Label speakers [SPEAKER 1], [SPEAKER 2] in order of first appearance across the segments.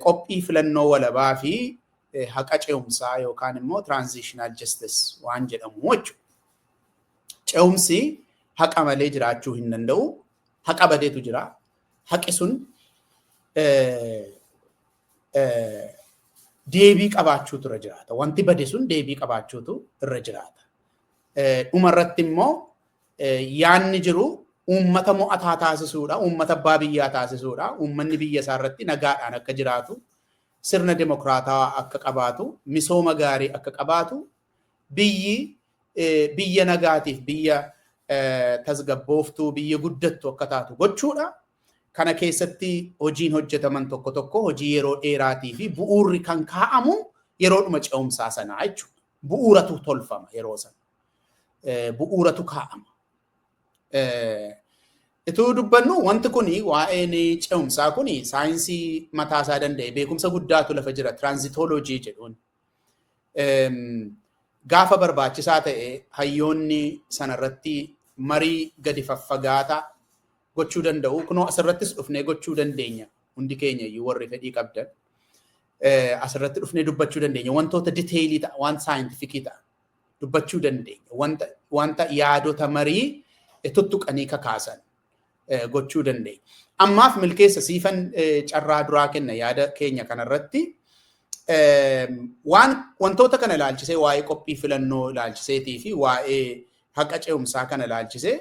[SPEAKER 1] qophii filannoo walabaa fi haqa ce'umsaa yookaan immoo transitional justice waan jedhamu jechuudha. Ce'umsi haqa malee jiraachuu hin danda'u. Haqa badeetu jira. Haqi sun deebii qabaachuutu irra jiraata. Wanti bade sun deebii qabaachuutu irra jiraata. Dhuma irratti immoo yaadni jiru uummata mo'ataa taasisuudha, uummata abbaa biyyaa taasisuudha, uummanni biyya isaa irratti nagaadhaan akka jiraatu, sirna demokraatawaa akka qabaatu, misooma gaarii akka qabaatu, biyyi biyya nagaatiif biyya tasgabbooftuu biyya guddattu akka taatu gochuudha. Kana keessatti hojiin hojjetaman tokko tokko hojii yeroo dheeraatii fi bu'uurri kan kaa'amu yeroodhuma ce'umsaa sanaa jechuudha. Bu'uuratu tolfama yeroo sana. bu'uuratu kaa'ama. Ituu dubbannu wanti kun waa'een ce'umsaa kun saayinsii mataa isaa danda'e beekumsa guddaatu lafa jira tiraanzitooloojii jedhuun. Gaafa barbaachisaa ta'e hayyoonni sanarratti marii gadi faffagaata gochuu danda'u. Kunoo asirrattis dhufnee gochuu dandeenya hundi keenya iyyuu warri fedhii qabdan. Asirratti dhufnee dubbachuu dandeenya wantoota diteeyilii ta'a waan saayintifikii ta'a. dubbachuu dandeenya. Wanta, wanta yaadota marii tuttuqanii kakaasan gochuu dandeenya. Ammaaf milkeessa siifan carraa duraa kenna yaada keenya kanarratti. Waan wantoota kana ilaalchisee waa'ee qophii filannoo ilaalchiseetii fi waa'ee haqa ce'umsaa kana ilaalchisee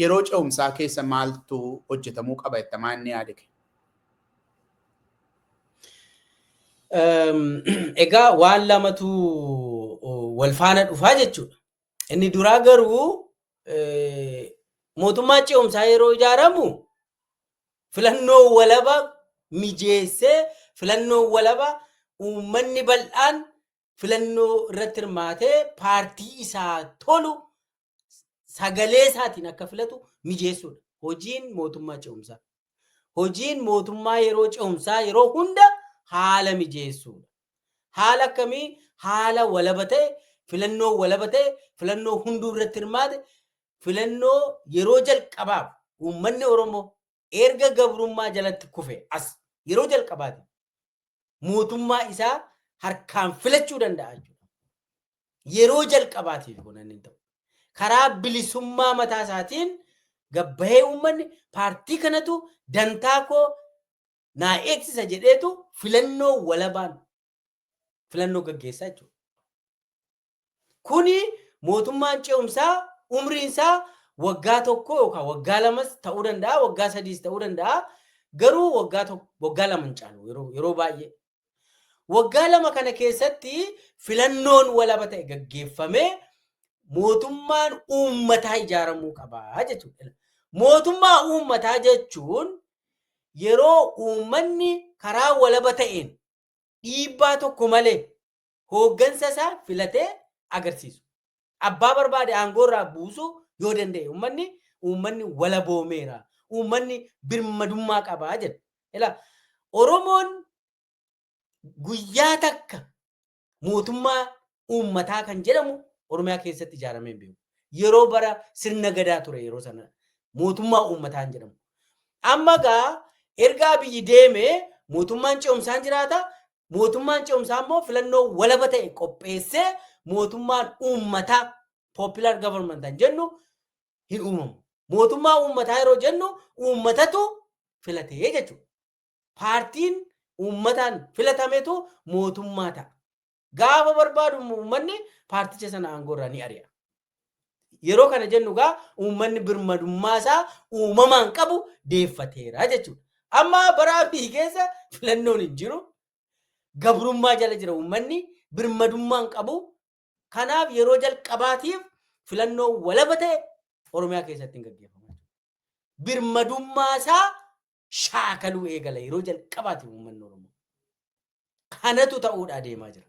[SPEAKER 1] Yeroo ce'umsaa keessa maaltu hojjetamuu qaba jetta maa inni yaadi kee?
[SPEAKER 2] Egaa waan lamatu wal faana dhufaa jechuudha. Inni duraa garuu mootummaa ce'umsaa yeroo ijaaramu filannoo walaba mijeessee filannoo walaba uummanni bal'aan filannoo irratti hirmaatee paartii isaa tolu sagalee isaatiin akka filatu mijeessuudha. Hojiin mootummaa ce'umsaa. Hojiin mootummaa yeroo ce'umsaa yeroo hunda haala mijeessuudha. Haala akkamii haala walaba ta'e filannoo walaba ta'e filannoo hunduu irratti hirmaate filannoo yeroo jalqabaaf uummanni Oromoo erga gabrummaa jalatti kufe as yeroo jalqabaati mootummaa isaa harkaan filachuu danda'a jechuudha. Yeroo jalqabaatiif kun inni ta'u. Karaa bilisummaa mataa isaatiin gabbahee uummanni paartii kanatu dantaa koo naa eegsisa jedheetu filannoo walabaan filannoo gaggeessaa jechuudha. Kuni mootummaan ce'umsaa umriin isaa waggaa tokko yookaan waggaa lamas ta'uu danda'a, waggaa sadiis ta'uu danda'a. Garuu waggaa tokko, waggaa lama hin caalu yeroo, yeroo baay'ee. Waggaa lama kana keessatti filannoon walaba ta'e gaggeeffamee mootummaan uummataa ijaaramuu qaba jechuudha. Mootummaa uummataa jechuun yeroo uummanni karaa walaba ta'een dhiibbaa tokko malee hooggansa isaa filatee agarsiisu. Abbaa barbaade aangoo irraa buusu yoo danda'e uummanni uummanni walaboomeera. Uummanni birmadummaa qabaa jedha. Ila Oromoon guyyaa takka mootummaa uummataa kan jedhamu Oromiyaa keessatti ijaaramee hin beeku. Yeroo bara sirna gadaa ture yeroo sana mootummaa uummataa hin jedhamu. Amma gaa erga abiyyi deeme mootummaan ce'umsaan jiraata Mootummaan ce'umsaa immoo filannoo walaba ta'e qopheessee mootummaan uummataa popular government kan jennu hin uumamu. Mootummaa uummataa yeroo jennu uummatatu filatee jechuudha. Paartiin uummataan filatametu mootummaa ta'a. Gaafa barbaadu immoo uummanni paarticha sana aangoo irraa ni ari'a. Yeroo kana jennu egaa uummanni birmadummaa isaa uumamaan qabu deeffateera jechuudha. Amma bara Abiy keessa filannoon hin jiru. Gabrummaa jala jira uummanni birmadummaa hin qabu. Kanaaf yeroo jalqabaatiif filannoo walaba ta'e Oromiyaa keessatti hin gaggeeffamu. Birmadummaa isaa shaakaluu eegala yeroo jalqabaatiif uummanni Oromoo. Kanatu ta'uudhaa deemaa jira.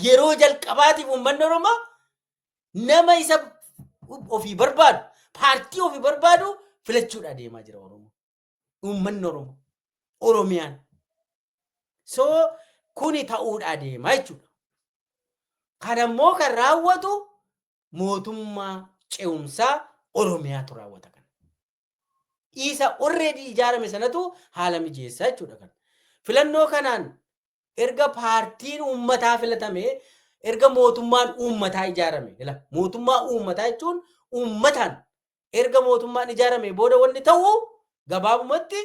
[SPEAKER 2] Yeroo jalqabaatiif uummanni Oromoo nama isa ofii barbaadu, paartii ofii barbaadu filachuudhaa deemaa jira Oromoo. Uummanni Oromoo. Oromiyaan. So kuni ta'uudhaa deemaa jechuudha. Kana immoo kan raawwatu mootummaa ce'umsaa Oromiyaatu raawwata kana. dhiisa already ijaarame sanatu haala mijeessa jechuudha kan. Filannoo kanaan erga paartiin uummataa filatame erga mootummaan uummataa ijaarame ila mootummaa uummataa jechuun uummataan erga mootummaan ijaarame booda wanni ta'u gabaabumatti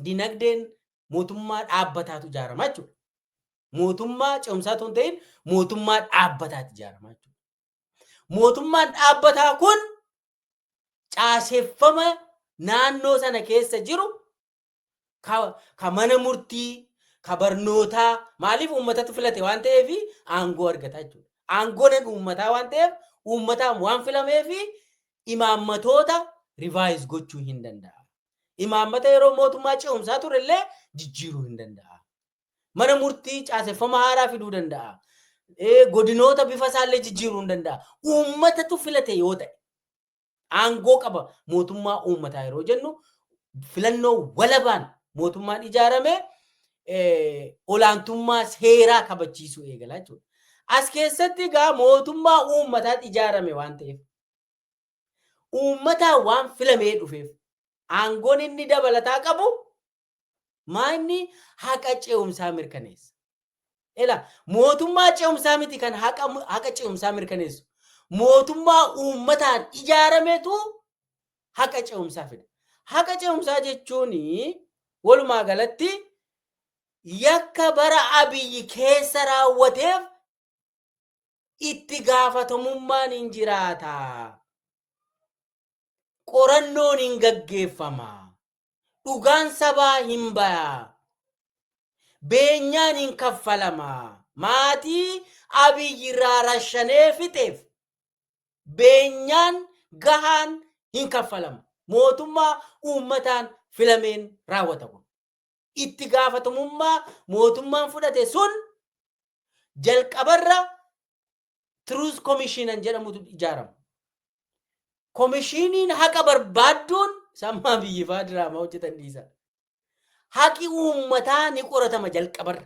[SPEAKER 2] dinagdeen mootummaa dhaabbataatu ijaarama jechuudha. Mootummaa cimsaa osoo hin ta'in mootummaa dhaabbataatu ijaarama jechuudha. Mootummaan dhaabbataa kun caaseffama naannoo sana keessa jiru ka, ka mana murtii ka barnootaa maaliif uummatatu filate waan ta'eef aangoo argata jechuudha. Aangoon uummataa waan ta'eef uummataan waan filameef imaammatoota rivaayiz gochuu hin danda'a. Imaammata yeroo mootummaa ce'umsaa ture illee jijjiiruu hin danda'a. Mana murtii caaseffama haaraa fiduu danda'a. Godinoota bifa isaallee jijjiiruu ni danda'a. Uummatatu filate yoo ta'e. Aangoo qaba mootummaa uummataa yeroo jennu filannoo walabaan mootummaan ijaarame olaantummaa seeraa kabachiisuu eegala jechuudha. As keessatti egaa mootummaa uummataatti ijaarame waan ta'eef uummataa waan filamee dhufeef aangoon inni dabalataa qabu Maa inni haqa ce'umsaa mirkaneessa. Ela mootummaa ce'umsaa miti kan haqa, haqa ce'umsaa mirkaneessu. Mootummaa uummataan ijaarametu haqa ce'umsaa fida. Haqa ce'umsaa jechuun walumaa galatti yakka bara abiyyi keessa raawwateef itti gaafatamummaan hin jiraata. Qorannoon hin gaggeeffama. Dhugaan sabaa hin baya. Beenyaan hin kaffalama. Maatii Abiyyi irraa rashanee fixeef beenyaan gahaan hin kaffalama. Mootummaa uummataan filameen raawwata kun. Itti gaafatamummaa mootummaan fudhate sun jalqabarra Truth Commission jedhamutu ijaarama. Komishiniin haqa barbaadduun sammaa biyyifaa diraamaa hojjetan dhiisa. Haqi uummataa ni qoratama jalqabarra.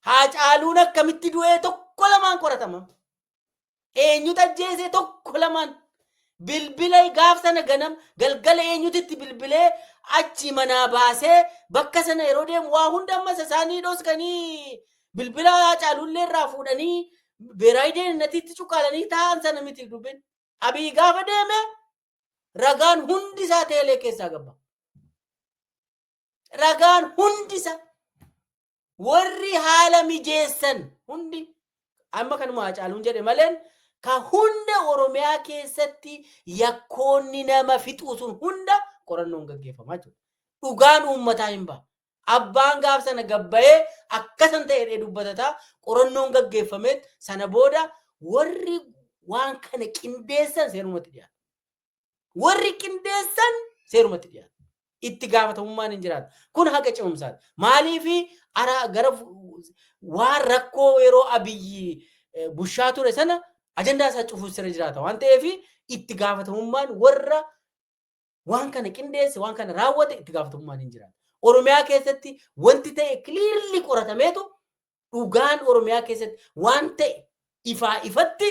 [SPEAKER 2] Haacaaluun akkamitti du'ee tokko lamaan qoratama. Eenyutu ajjeesee tokko lamaan bilbila gaaf sana ganam galgala eenyutu itti bilbilee achi manaa baasee bakka sana yeroo deemu waa hunda ammas isaanii dhoskanii Bilbilaa Haacaaluullee irraa fuudhanii beeraayi deeninatiitti cuqqaalanii taa'an sana miti dubbin. Abiy gaafa deeme ragaan hundi isaa teelee keessaa gabba. Ragaan hundi isaa warri haala mijeessan hundi amma kanuma Haacaaluun jedhe maleen ka hunda Oromiyaa keessatti yakkoonni nama fixuu sun hunda qorannoon gaggeeffamaa jiru. Dhugaan uummataa hin ba'a. Abbaan gaaf sana gad bahee akka san ta'e jedhee dubbatata. Qorannoon gaggeeffameet sana booda warri waan kana qindeessan seerumatti dhiyaatu. Warri qindeessan seerumatti dhiyaatu. Itti gaafatamummaan hin jiraatu. Kun haqa cimumsaati. Maaliif araa gara fu- waan rakkoo yeroo abiyyi eh, bushaa ture sana ajandaa isaa cufuus irra jiraata waan ta'eef itti gaafatamummaan warra waan kana qindeesse waan kana raawwate itti gaafatamummaan hin jiraatu. Oromiyaa keessatti wanti ta'e kiliirli qoratameetu dhugaan Oromiyaa keessatti waan ta'e ifaa ifatti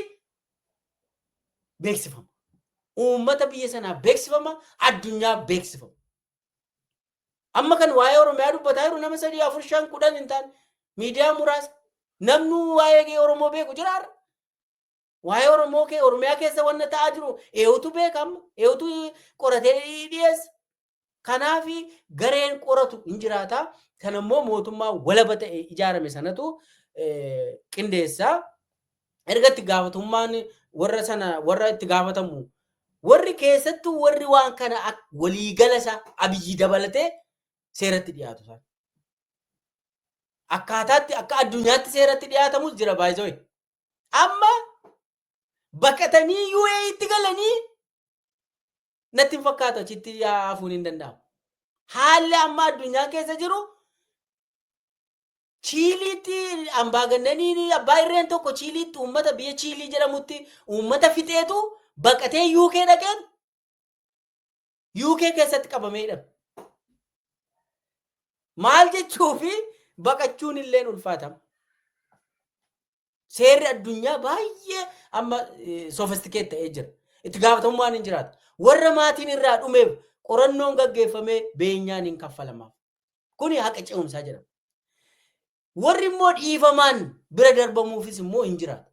[SPEAKER 2] beeksifama. Uummata biyya sanaa beeksifama, addunyaa beeksifama. Amma kan waa'ee Oromiyaa dubbataa jiru nama sadii afur shan kudhan hin taane miidiyaa muraasa namni waa'ee Oromoo beeku jiraarra. Waa'ee Oromoo kee Oromiyaa keessa wanna ta'aa jiru eewutu beeka amma eewutu qoratee dhiyeessa. Kanaaf gareen qoratu hin jiraata. Kan ammoo mootummaa walaba ta'e ijaarame sanatu qindeessa. Erga itti gaafatummaan warra sana warra itti gaafatamu warri keessattuu warri waan kana waliigala isaa abiyyi dabalatee seeratti dhiyaatu isaan. Akkaataatti akka addunyaatti seeratti dhiyaatamus jira baay'isoo. Amma baqatanii UAEtti galanii natti hin fakkaatu achitti hafuun hin danda'amu. Haalli amma addunyaa keessa jiru Chiiliitti ambaagannaniin abbaa irreen tokko Chiiliitti uummata biyya Chiilii jedhamutti uummata fixeetu baqatee UK dhaqeen UK keessatti qabamee hidhame. Maal jechuu fi baqachuun illee ulfaatama. Seerri addunyaa baay'ee amma sofistikeet ta'ee jira. Itti gaafatamummaan hin jiraata. Warra maatiin irraa dhumeef qorannoon gaggeeffamee beenyaan hin kaffalamaaf. Kuni haqa ce'umsaa jedhama. Warri immoo dhiifamaan bira darbamuufis immoo hin jiraatu.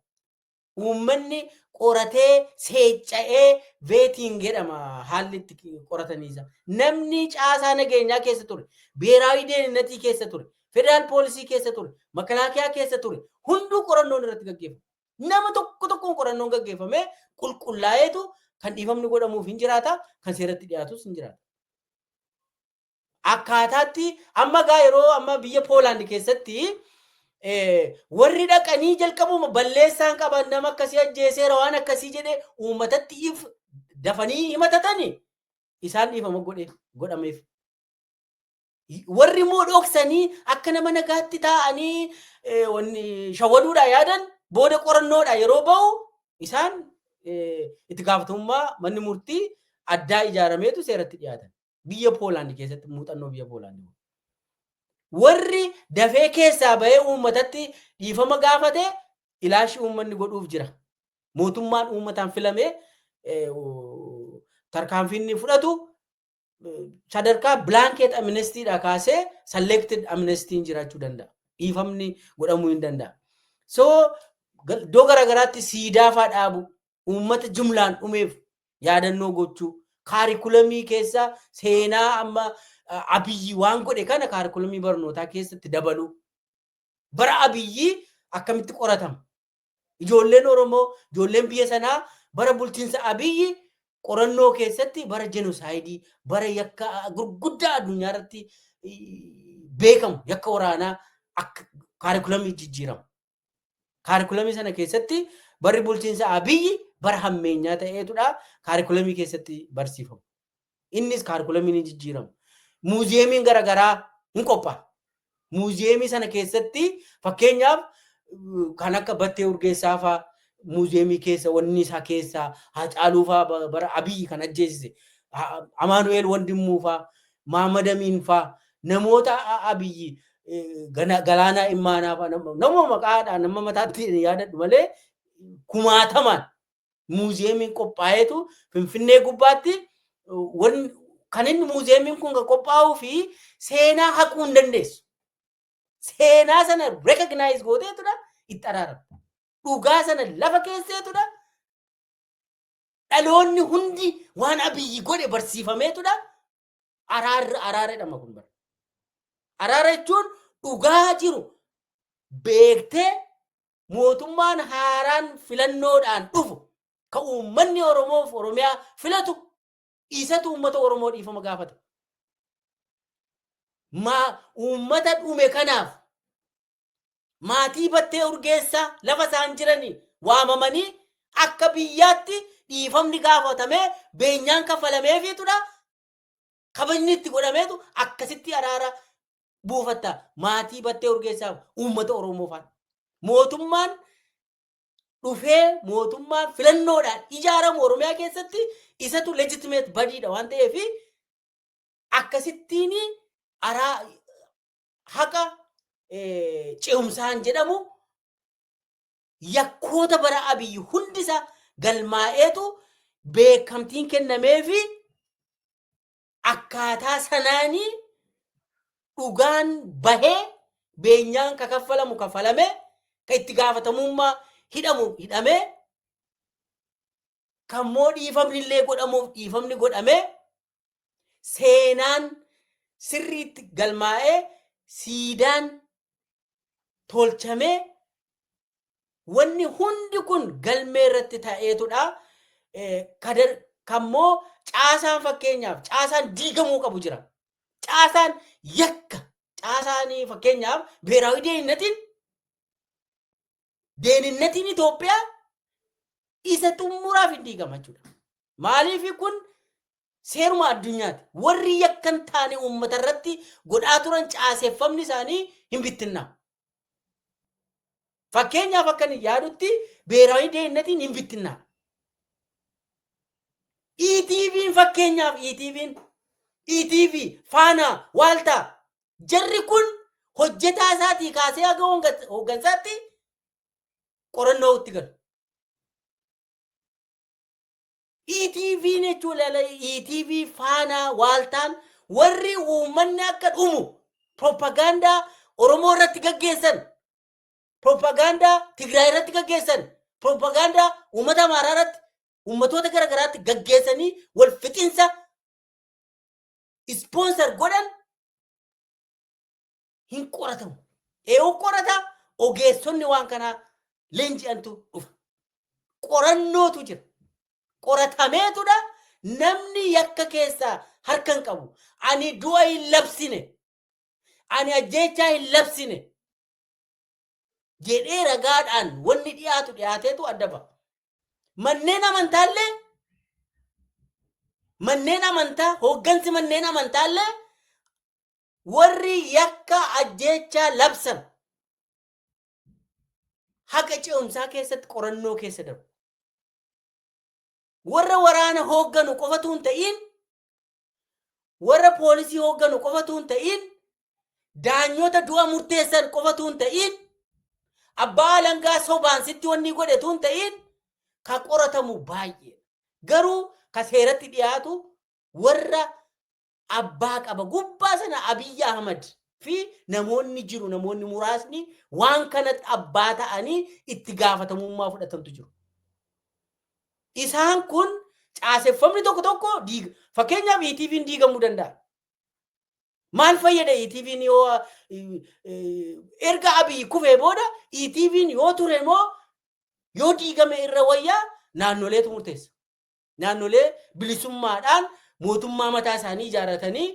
[SPEAKER 2] Uummanni qoratee seecca'ee veetiin jedhama haalli itti qorataniisa. Namni caasaa nageenyaa keessa ture, beeraawii deeninnatii keessa ture, federaal poolisii keessa ture, makalaakiyaa keessa ture hunduu qorannoon irratti gaggeeffama. Nama tokko tokkoon qorannoon gaggeeffamee qulqullaa'eetu kan dhiifamni godhamuuf hin jiraata, kan seeratti dhiyaatus hin jiraata. akkaataatti amma gaa yeroo amma biyya Poolaand keessatti warri dhaqanii jalqabuma balleessaan qaban nama akkasii ajjeeseera waan akkasii jedhee uummatatti if dafanii himatatani isaan dhiifama godhe godhameef. Warri immoo dhoksanii akka nama nagaatti taa'anii shawwaduudhaa yaadan booda qorannoodha yeroo ba'u isaan itti gaafatamummaa manni murtii addaa ijaarameetu seeratti dhiyaatan. Biyya Poolaandi keessatti muuxannoo biyya Poolaandi. Warri dafee keessaa bahee uummatatti dhiifama gaafate ilaashi uummanni godhuuf jira. Mootummaan uummataan filamee tarkaanfiinni fudhatu sadarkaa bilaankeet amnestiidha kaasee salleekted amnestiin jiraachuu danda'a. Dhiifamni godhamuu hin danda'a. So iddoo garaagaraatti siidaa fa'aa dhaabu uummata jumlaan dhumeef yaadannoo gochuu kaarikulamii keessa seenaa amma abiyyi waan godhe kana kaarikulamii barnootaa keessatti dabaluu bara abiyyi akkamitti qoratama ijoolleen oromoo ijoolleen biyya sanaa bara bulchiinsa abiyyi qorannoo keessatti bara jenosaayidii bara yakka gurguddaa addunyaa irratti beekamu yakka waraanaa akka kaarikulamii jijjiiramu Kaarikulamii sana keessatti barri bulchiinsa Abiyyi bara hammeenyaa ta'eetudha kaarikulamii keessatti barsiifamu. Innis kaarikulamiin hin jijjiiramu. Muuziyeemiin garaagaraa hin qophaa'a. Muuziyeemii sana keessatti fakkeenyaaf kan akka battee urgeessaa faa muuziyeemii keessa wanni isaa keessaa Haacaaluu faa bara Abiyyi kan ajjeesise Amaanu'eel Wandimmuu faa maamadamiin faa namoota abiyyi galaanaa immaanaa faa nama maqaadhaan nama mataatti yaadadhu malee kumaatamaan muuziyeemiin qophaa'eetu finfinnee gubbaatti kan inni muuziyeemiin kun qophaa'uu fi seenaa haquu hin dandeessu. Seenaa sana rekognaayiz gooteetudha itti araarama. Dhugaa sana lafa keesseetudha Dhaloonni hundi waan abiyyi godhe barsiifameetudha. Araarri araara jedhama kun bara. Araara jechuun dhugaa jiru beektee mootummaan haaraan filannoodhaan dhufu ka uummanni Oromoof Oromiyaa filatu isatu uummata Oromoo dhiifama gaafata. Maa uummata dhume kanaaf maatii Battee Urgeessaa lafa isaan jiranii waamamanii akka biyyaatti dhiifamni gaafatamee beenyaan kaffalameefiitudha. Kabajni itti godhameetu akkasitti araara buufatta maatii Battee Urgeessaaf uummata Oromoo faana. Mootummaan dhufee mootummaan filannoodhaan ijaaramu Oromiyaa keessatti isatu legitimate badiidha waan ta'eef akkasittiin araa haqa ce'umsaan jedhamu yakkoota bara abiyyi hundi isaa galmaa'eetu beekamtiin kennamee fi akkaataa sanaanii dhugaan bahee beenyaan ka kaffalamu kaffalamee ka itti gaafatamummaa hidhamu hidhamee Kan immoo dhiifamni illee godhamuuf dhiifamni godhamee seenaan sirriitti galmaa'ee siidaan tolchamee wanni hundi kun galmee irratti ta'eetudha. Eh, Kadar kan immoo caasaan fakkeenyaaf caasaan diigamuu qabu jira. Caasaan yakka caasaanii fakkeenyaaf beeraawi deegnatiin deeninnatiin Itoophiyaa isa xumuraaf hin diigama jechuudha. Maaliif kun seeruma addunyaati. Warri yakka hin taane uummata irratti godhaa turan caaseffamni isaanii hin bittinnaa. Fakkeenyaaf akka inni yaadutti beeraawi deeninnatiin hin bittinnaa. ETV'n fakkeenyaaf ETV'n ETV faanaa waaltaa Jarri kun hojjetaa isaatii kaasee haga hooggan- hooggansaatti qorannoo itti galu. ETV jechuun ilaala ETV faanaa waaltaan warri uummanni akka dhumu propagaandaa Oromoo irratti gaggeessan, propagaandaa Tigraay irratti gaggeessan, propagaandaa uummata Amaaraa irratti uummatoota gara garaatti gaggeessanii wal fixinsa ispoonsar godhan hin qoratamu. Eewu qorata ogeessonni waan kanaa leenji'antu dhufa. Qorannootu jira. Qoratameetudha namni yakka keessaa harka hin qabu. Ani du'a hin labsine. Ani ajjeechaa hin labsine. jedhee ragaadhaan wanni dhiyaatu dhiyaateetu adda ba'a. Manneen amantaallee manneen amantaa hooggansi manneen amantaallee warri yakka ajjeechaa labsan haqa ce'umsaa keessatti qorannoo keessa darbu. Warra waraana hoogganu qofatu hin ta'iin warra poolisii hoogganu qofatu hin ta'iin daanyota du'a murteessan qofatu hin ta'iin abbaa alangaa sobaan sitti wanni godhetu hin ta'iin ka qoratamu baay'ee garuu ka seeratti dhiyaatu warra abbaa qaba gubbaa sana abiyyi ahmad fi namoonni jiru namoonni muraasni waan kanatti abbaa ta'anii itti gaafatamummaa fudhatantu jiru. Isaan kun caaseffamni tokko tokko diiga. Fakkeenyaaf ETV'n diigamuu danda'a. Maal fayyada ETV'n yoo erga Abiy kufee booda ETV'n yoo ture moo yoo diigame irra wayyaa naannoleetu murteessa. Naannolee bilisummaadhaan mootummaa mataa isaanii ijaarratanii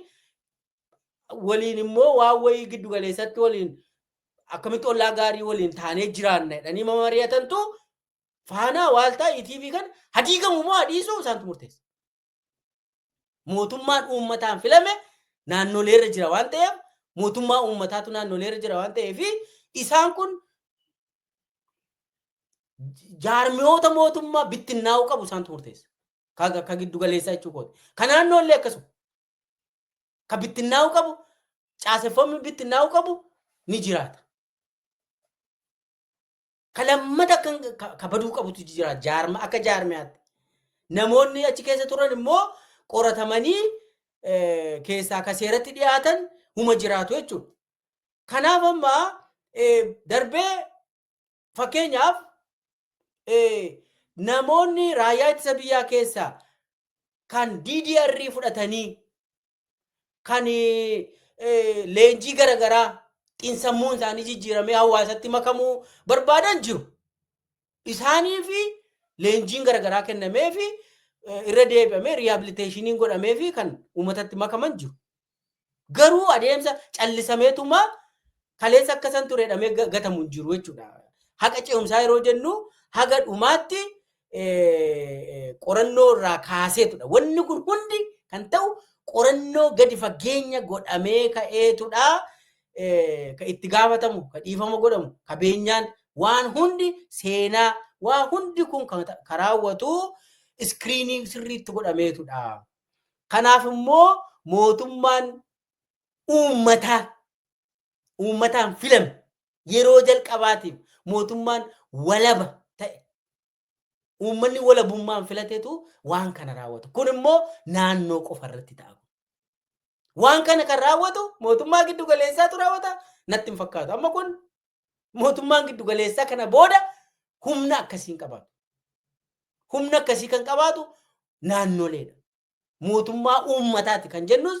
[SPEAKER 2] waliin immoo waan wayii giddu galeessatti waliin akkamitti ollaa gaarii waliin taanee jiraanna jedhanii mari'atantu Faanaa waaltaa ETV kan hadiigamu moo hadiisuu isaantu murteessa. Mootummaan uummataan filame naannolee irra jira waan ta'eef mootummaa uummataatu naannolee irra jira waan ta'eef isaan kun jaarmiyoota mootummaa bittinnaa'uu qabu isaantu murteessa. Ka giddu galeessaa jechuu kooti. Ka naannoo illee akkasuma. Ka bittinnaa'uu qabu caaseffamni bittinnaa'uu qabu ni jiraata. Ka lammata kan ka- ka baduu qabutu jira jaarma akka jaarmiyaatti. Namoonni achi keessa turan immoo qoratamanii eh, keessaa ka seeratti dhiyaatan huma jiraatu jechuudha. Kanaaf amma eh, darbee fakkeenyaaf eh, namoonni raayyaa ittisa biyyaa keessaa kan DDR fudhatanii kan leenjii garagaraa xinsammuun isaanii jijjiiramee hawaasatti makamuu barbaadan jiru. Isaanii fi leenjiin garagaraa kennamee fi irra deebi'amee riihabiliteeshiniin godhamee fi kan uummatatti makaman jiru. Garuu adeemsa callisameetumaa kaleessa akka san ture jedhamee ga- gatamu hin jiru jechuudha. Haqa ce'umsaa yeroo jennu haga dhumaatti eh, qorannoo irraa kaaseetudha. Wanni kun hundi kan ta'u qorannoo gadi fageenya godhamee ka'eetudha. Eh, Ka itti gaafatamu, ka dhiifama godhamu, ka beenyaan waan hundi seenaa, waan hundi kun kan ta- ka raawwatu iskiriinii sirriitti godhameetudha. Kanaaf immoo mootummaan uummataa uummataan filame yeroo jalqabaatiif mootummaan walaba ta'e uummanni walabummaan filatetu waan kana raawwatu. Kun immoo naannoo qofa irratti ta'a. Waan kana kan raawwatu mootummaa giddu galeessaatu raawwata natti hin fakkaatu. Amma kun mootummaan giddu galeessaa kana booda humna akkasii hin qabaatu. Humna akkasii kan qabaatu naannoleedha. Mootummaa uummataati kan jennus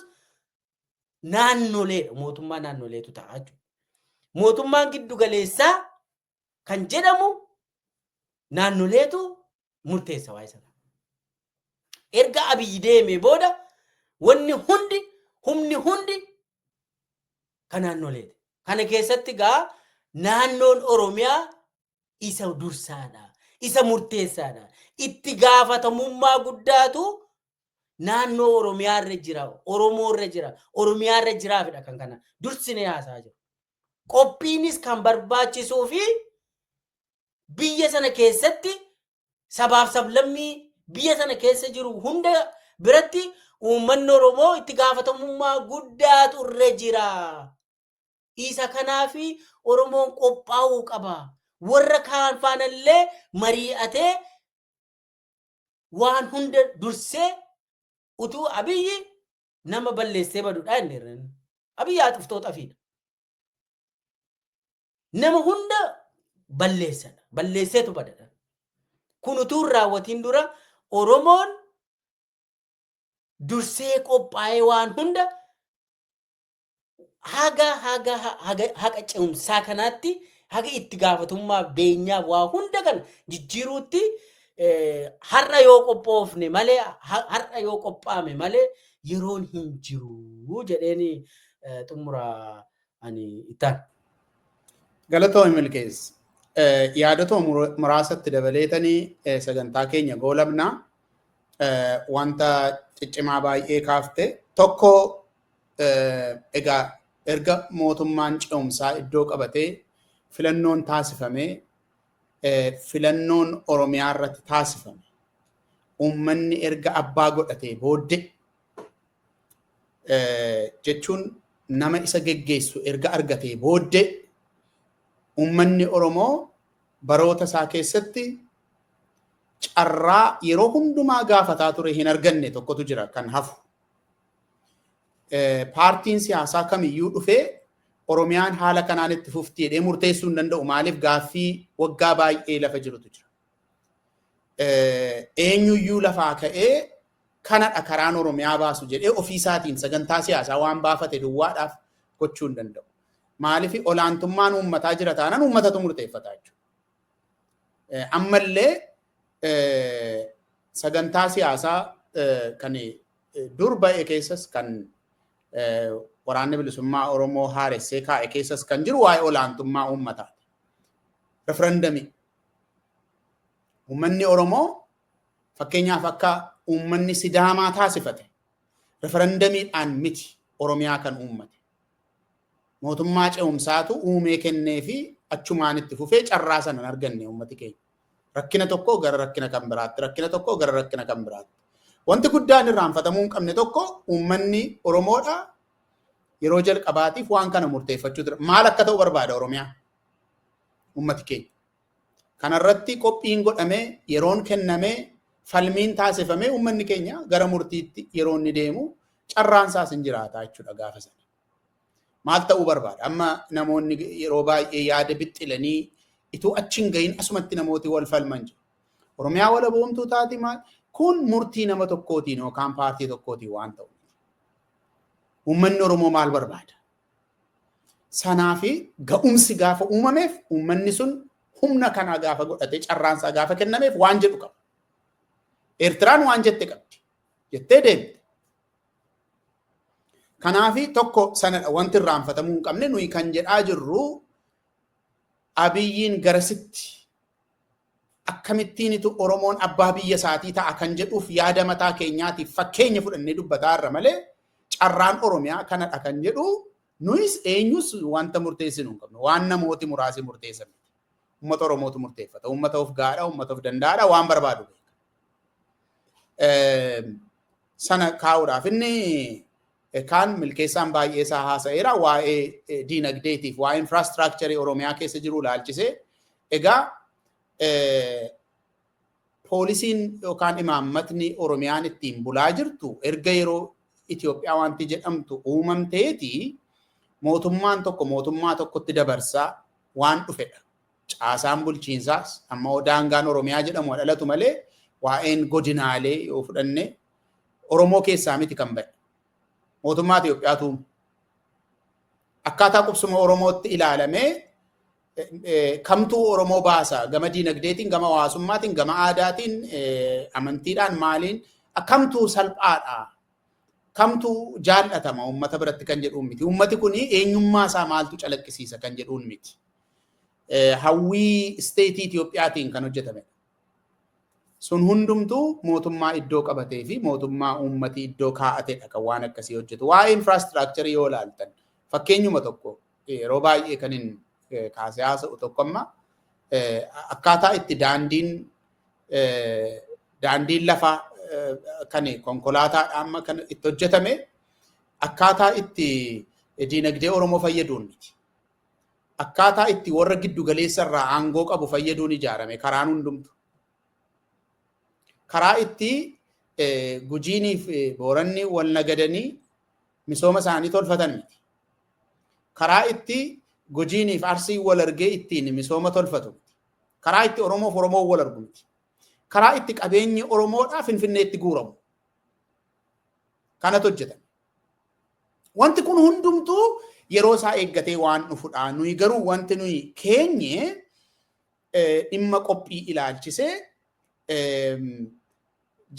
[SPEAKER 2] naannoleedha. Mootummaa naannoleetu ta'a jechuudha. Mootummaan giddu galeessaa kan jedhamu naannoleetu murteessa waa'ee sana. Erga abiyyi deemee booda wanni hundi humni hundi kan naannoleeti. Kana keessatti gaa naannoon Oromiyaa isa dursaadha. Isa murteessaadha. Itti gaafatamummaa guddaatu naannoo Oromiyaa irra jira, Oromoo irra jira, Oromiyaa irra jiraafidha kan kana dursinee haasaa jiru. Qophiinis kan barbaachisuu fi biyya sana keessatti sabaaf sablammii biyya sana keessa jiru hunda biratti uummanni Oromoo itti gaafatamummaa guddaatu irra jira. Isa kanaafi Oromoon qophaa'uu qaba. Warra kaan faanallee marii'atee waan hunda dursee utuu abiyyi nama balleessee badudha inni irra. Abiyyi haxuftoo xafiidha. Nama hunda balleessadha. Balleesseetu badadha. Kun utuu hin raawwatiin dura Oromoon dursee qophaa'ee waan hunda haga haga haga haqa cimsaa kanaatti haga itti gaafatummaa beenyaa waa hunda kana jijjiiruutti eh, har'a yoo qophoofne malee ha- har'a yoo qophaame malee yeroon hin jiru jedheeni eh, xumura ani ittaan.
[SPEAKER 1] Galatoomi milkees. Eh, Yaadota mur- muraasatti dabaleetanii eh, sagantaa keenya goolabna. Eh, Wanta ciccimaa baay'ee kaafte. Tokko Egaa erga mootummaan ce'umsaa iddoo qabatee filannoon taasifamee filannoon Oromiyaa irratti taasifame uummanni erga abbaa godhatee booddee jechuun nama isa geggeessu erga argatee booddee uummanni Oromoo baroota isaa keessatti carraa yeroo hundumaa gaafataa ture hin arganne tokkotu jira kan hafu. paartiin siyaasaa kamiyyuu dhufee Oromiyaan haala kanaan itti fufti jedhee murteessuu hin danda'u. Maaliif gaaffii waggaa baay'ee lafa jirutu jira. Eenyuyyuu lafaa ka'ee kanadha karaan Oromiyaa baasu jedhee ofiisaatiin sagantaa siyaasaa waan baafate duwwaadhaaf gochuu hin danda'u. Maaliif olaantummaan uummataa jira taanaan uummatatu murteeffata jechuudha. Ammallee sagantaa siyaasaa kan dur ba'e keessas kan waraanni bilisummaa Oromoo haaressee kaa'e keessas kan jiru waa'ee olaantummaa uummataati. Referendamii. Uummanni Oromoo fakkeenyaaf akka uummanni Sidaamaa taasifate referendamiidhaan miti Oromiyaa kan uummate. Mootummaa ce'umsaatu uumee kennee fi achumaan itti fufee carraa sana hin arganne uummati keenya. Rakkina tokko gara rakkina kan biraatti, rakkina tokko gara rakkina kan biraatti. Wanti guddaan irraanfatamuu hin qabne tokko uummanni Oromoodha yeroo jalqabaatiif waan kana murteeffachuu ture. Maal akka ta'u barbaada Oromiyaa? Uummati keenya. Kana irratti qophiin godhamee, yeroon kennamee, falmiin taasifamee uummanni keenya gara murtiitti yeroo inni deemu carraan isaas hin jiraata jechuudha gaafa sana. Maal ta'uu barbaada? Amma namoonni yeroo baay'ee yaada bixxilanii ituu achi hin gahin asumatti namooti wal falman jiru. Oromiyaa walaboomtuu taati maal? Kun murtii nama tokkootiin yookaan paartii tokkootiin waan ta'u. Uummanni Oromoo maal barbaada? sanaa fi ga'umsi gaafa uumameef uummanni sun humna kanaa gaafa godhatee carraan isaa gaafa kennameef waan jedhu qaba. Eertiraan waan jette qabdi. Jettee deemte. Kanaafi tokko sanadha wanti irraanfatamuu hin qabne nuyi kan jedhaa jirru abiyyiin garasitti akkamittiinitu Oromoon abbaa biyya isaatii ta'a kan jedhuuf yaada mataa keenyaatiif fakkeenya fudhannee dubbataa irra malee carraan Oromiyaa kanadha kan jedhu nuyis eenyus wanta murteessinu hin qabnu. Waan namooti muraasi murteessan miti. Uummata Oromootu murteeffata. Uummata of gaadha, uummata of danda'aadha, waan barbaadu beeka. sana kaa'uudhaaf inni kaan milkeessaan baay'ee isaa haasa'eera waa'ee diinagdeetiif waa'ee infiraastraakicharii Oromiyaa keessa jiru ilaalchisee egaa poolisiin yookaan imaammatni Oromiyaan ittiin bulaa jirtu erga yeroo Itoophiyaa wanti jedhamtu uumamteeti mootummaan tokko mootummaa tokkotti dabarsaa waan dhufedha. caasaan bulchiinsaas amma hoo daangaan Oromiyaa jedhamu haa dhalatu malee waa'een godinaalee yoo fudhanne Oromoo keessaa miti kan ba'e. Mootummaa Itoophiyaatu uume. akkaataa qubsuma Oromootti ilaalamee eh, eh, kamtuu Oromoo baasa gama diinagdeetiin, gama hawaasummaatiin, gama aadaatiin, eh, amantiidhaan maaliin akkamtuu salphaadha. Kamtuu jaallatama uummata biratti kan jedhuun miti. Uummati kun eenyummaa isaa maaltu calaqqisiisa kan jedhuun miti. hawwii isteetii Itoophiyaatiin kan hojjetamedha. Sun hundumtuu mootummaa iddoo qabatee fi mootummaa uummati iddoo kaa'atedha kan waan akkasii hojjetu. Waa'ee infraastiraakcharii yoo ilaaltan fakkeenyuma tokko yeroo baay'ee kan hin kaasee haasa'u tokko amma akkaataa itti daandiin daandiin lafaa kan konkolaataadha amma kan itti hojjetame akkaataa itti diinagdee Oromoo fayyaduun miti. akkaataa itti warra giddu galeessa irraa aangoo qabu fayyaduun ijaarame karaan hundumtu. Karaa itti gujiinii fi booranni wal nagadanii misooma isaanii tolfatan miti. Karaa itti gujiinii fi arsii wal argee ittiin misooma tolfatu miti. Karaa itti Oromoo fi Oromoo wal argu miti. Karaa itti qabeenyi Oromoodhaa Finfinneetti guuramu. Kanatu hojjetame. Wanti kun hundumtuu yeroo isaa eeggatee waan dhufudha. Nuyi garuu wanti nuyi keenye dhimma qophii ilaalchisee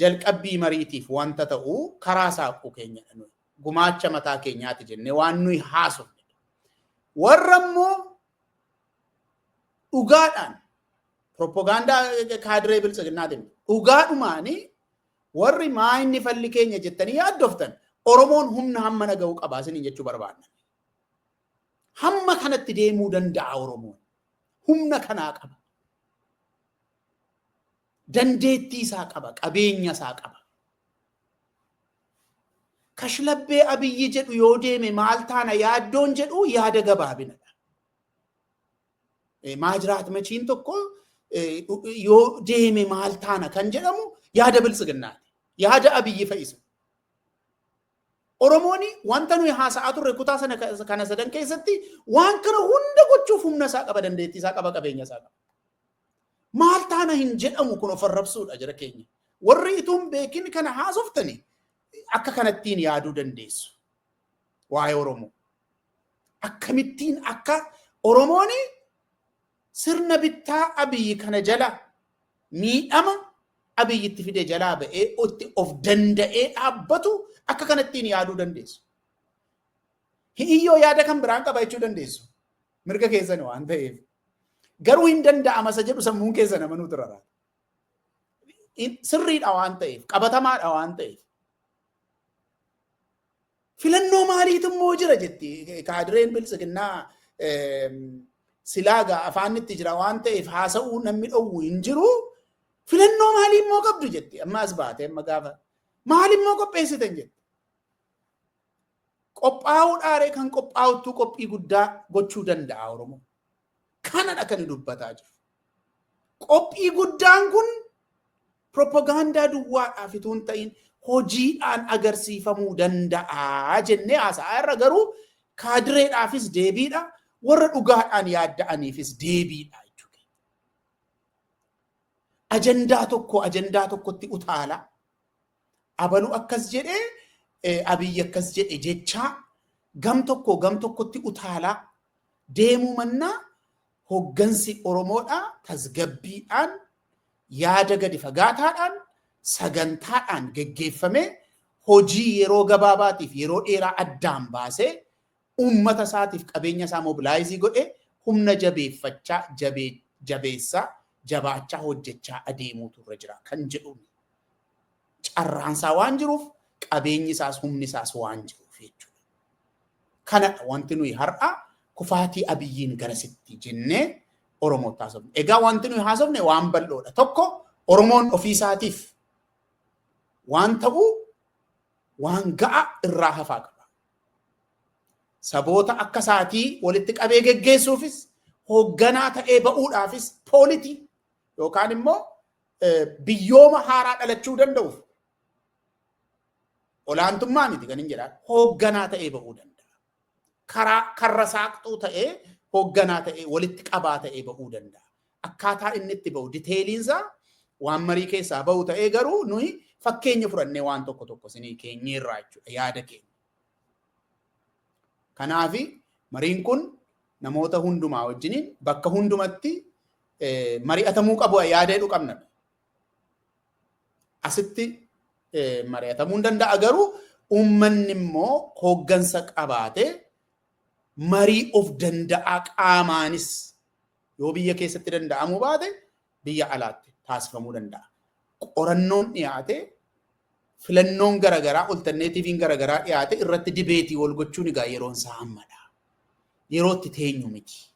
[SPEAKER 1] jalqabbii mariitiif wanta ta'u karaa saaquu keenyadha nuyi. Gumaacha mataa keenyaati jennee waan nuyi haasofne. Warra immoo dhugaadhaan propagaandaa kaadiree biltsiginnaatiin dhugaadhumaanii Warri maa inni falli keenya jettanii yaaddoftan Oromoon humna hammana ga'u qaba isiniin jechuu barbaadna. Hamma kanatti deemuu danda'a Oromoon. Humna kanaa qaba. Dandeettii isaa qaba, qabeenya isaa qaba. Kashlabbee Abiyyi jedhu yoo deeme maal taana yaaddoon jedhu yaada gabaabinadha. Maajiraat machiin tokko yoo deeme maal taana kan jedhamu yaada biltsiginnaati. Yaada abiyyi fa'isa. Oromoon wanta nuyi haasa'aa turre kutaa sana kana sadan keessatti waan kana hunda gochuuf humna isaa qaba dandeettii isaa qaba qabeenya isaa qaba. Maal taana hin jedhamu kun of arrabsuudha jira keenya. Warri ituun beekin kana haasoftani akka kanattiin yaaduu dandeessu. Waa'ee Oromoo. akkamittiin akka Oromoon sirna bittaa Abiyyi kana jala miidhama Abiyyi itti fide jalaa ba'ee itti of danda'ee dhaabbatu akka kanattiin yaaduu dandeessu. Hi'iyyoo yaada kan biraan qaba jechuu dandeessu. Mirga keessan waan ta'eef. Garuu hin danda'ama isa jedhu sammuun keessan amanuu turara. Sirriidha waan ta'eef, qabatamaadha waan ta'eef. Filannoo maaliitu immoo jira jetti kaadireen biltsiginnaa silaaga afaanitti jira waan ta'eef haasa'uu namni dhowwu hin jiru. Filannoo maalii immoo qabdu jetti amma as baatee amma gaafa maali immoo qopheessitan jetti. Qophaa'uu dhaaree kan qophaa'uttuu qophii guddaa gochuu danda'a Oromoo. Kanadha kan dubbataa jiru. Qophii guddaan kun propagaandaa duwwaadhaaf utuu hin ta'in hojiidhaan agarsiifamuu danda'a jennee haasa'aa irra garuu kaadireedhaafis deebiidha warra dhugaadhaan yaadda'aniifis deebiidha jechuudha. Ajandaa tokko ajandaa tokkotti utaala abalu akkas jedhe abiyyi akkas jedhe jechaa gam tokko gam tokkotti utaalaa deemuu mannaa hoggansi Oromoodhaa tasgabbiidhaan yaada gadi fagaataadhaan sagantaadhaan geggeeffamee hojii yeroo gabaabaatiif yeroo dheeraa addaan baasee uummata isaatiif qabeenya isaa mobilizii godhee humna jabeeffachaa, jabeessaa, jabaachaa hojjechaa adeemuutu irra jira kan jedhuun carraan isaa waan jiruuf qabeenyi isaas humni isaas waan jiruuf jechuudha. Kanadha wanti nuyi har'a kufaatii abiyyiin garasitti jennee Oromootti haasofne. Egaa wanti nuyi haasofne waan bal'oodha. Tokko Oromoon ofii isaatiif waan ta'uu waan ga'a irraa hafaa qaba. Saboota akka isaatii walitti qabee geggeessuufis hoogganaa ta'ee ba'uudhaafis poolitii yookaan immoo biyyooma haaraa dhalachuu danda'uuf olaantummaa miti kan hin jedhaan hoogganaa ta'ee ba'uu danda'a. Karaa karra saaqxuu ta'ee hoogganaa ta'ee walitti qabaa ta'ee ba'uu danda'a. akkaataa inni itti ba'u diteeliinsaa waan marii keessaa ba'u ta'ee garuu nuyi fakkeenya fudhannee waan tokko tokko isinii keenyeerraa jechuudha yaada keenya. Kanaafi mariin kun namoota hundumaa wajjiniin bakka hundumatti mari'atamuu qabu yaada jedhu qabna. Asitti mari'atamuu hin danda'a garuu uummanni immoo hooggansa qabaatee marii of danda'aa qaamaanis Yoo biyya keessatti danda'amuu baate biyya alaatti taasifamuu danda'a. Qorannoon dhiyaate filannoon garaagaraa oltanneetiiviin garaagaraa dhiyaate irratti dibeetii wal gochuun egaa yeroon isaa ammadha. Yeroo itti teenyu miti.